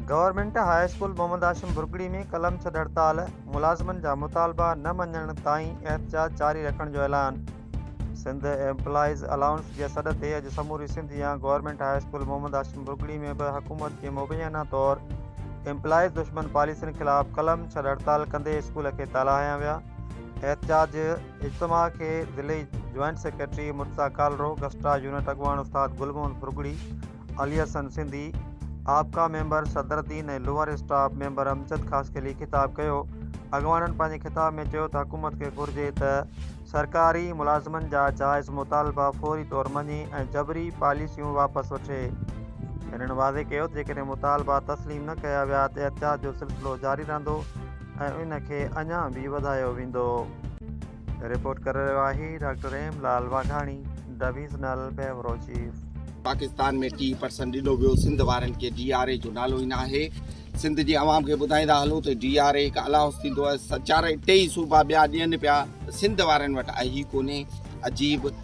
Government high school Muhammad Hashim Burgari ۾ قلم ڇڏ هڙتال، ملازمن جا مطالبا نه مڃڻ تائين احتجاج جاري رکڻ جو اعلان سنڌ ايمپلائيز الائونس جي سڏ تي اڄ سموري سنڌ يا government high school Muhammad Hashim Burgari ۾ به حڪومت جي مبينا طور ايمپلائيز دشمن پاليسين خلاف قلم ڇڏ هڙتال ڪندي اسڪول کي تالا هنيا ويا احتجاج اجتماع کي ضلعي joint secretary Murtaza Kalro GSTA unit اڳواڻ استاد گل محمد برگڙي علي حسن سنڌي، آپڪا ميمبر صدر الدين ۽ lower staff member Amjad Khaskheli خطاب ڪيو. اڳواڻن پنهنجي خطاب ۾ چيو ته حڪومت کي گهرجي ته سرڪاري ملازمن جا جائز مطالبا فوري طور مڃي ۽ جبري پاليسيون واپس وٺي. هنن واضح ڪيو ته جيڪڏهن مطالبا تسليم نه ڪيا ويا ته احتجاج جو سلسلو جاري رهندو ۽ ان کي اڃا به وڌايو ويندو. رپورٽ ڪري رهيو آهي doctor Rahim Lal Waghani divisional bureau chief. Pakistan ۾ ٽي پرسن ڏنو ويو سنڌ وارن کي ڊي آر اي جو نالو ئي ناهي سنڌ جي عوام کي ٻڌائيندا هلو ته ڊي آر اي هڪ الاهوس ٿيندو آهي چارئي ٽيئي صوبا ٻيا ڏين پيا سنڌ وارن وٽ آهي ڪونهي عجيب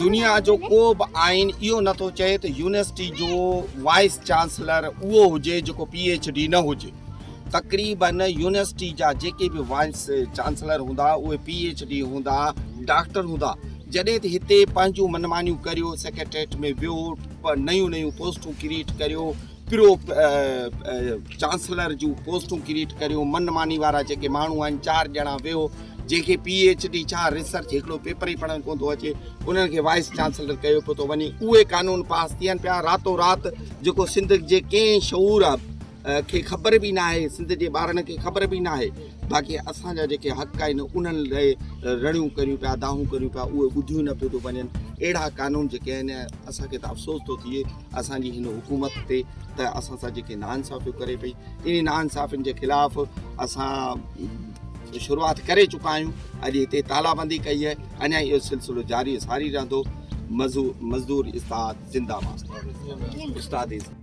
دنيا جو ڪو به آئين اهو نه ٿو چئي ته يونيورسٽي جو وائيس چانسلر اهو هجي جيڪو پي ايڇ ڊي نه هجي تقريبن يونيورسٽي جا جيڪي به وائيس چانسلر هوندا اهي پي ايڇ ڊي هوندا ڊاڪٽر هوندا جڏهن ته هتي پنهنجون منمانيون ڪريو سيڪريٽريٽ ۾ ويهو نيون نيون پوسٽون ڪريئيٽ ڪريو پرو چانسلر جون پوسٽون ڪريٽ ڪريون من ماني وارا جيڪي ماڻهو آهن چار ڄڻا ويهو جيڪي پي ايچ ڊي ڇا ريسرچ هڪڙو پيپر ئي پڙهڻ ڪون ٿو اچي انهن کي وائس چانسلر ڪيو پيو ٿو وڃي اهي قانون پاس ٿين پيا راتو رات جيڪو سنڌ جي ڪنهن شعور آهي کي خبر به نه آهي سنڌ جي ٻارن کي خبر به نه آهي باقي اسان جا جيڪي حق آهن انهن لاء رڙيون ڪريون پيا داهون ڪريون پيا اهي ٻڌيون نه پيو ٿو وڃن اهڙا قانون جيڪي آهن اسانکي ته افسوس ٿو ٿئي اسان جي هن حڪومت تي ته اسان سان جيڪي ناانصافيون ڪري پئي انهي ناانصافين جي خلاف اسان شروعات ڪري چڪا آهيون اڄ هتي تالابندي ڪئي آهي اڃا اهو سلسلو جاري ساري رهندو مزدور استاد زنده باد استاد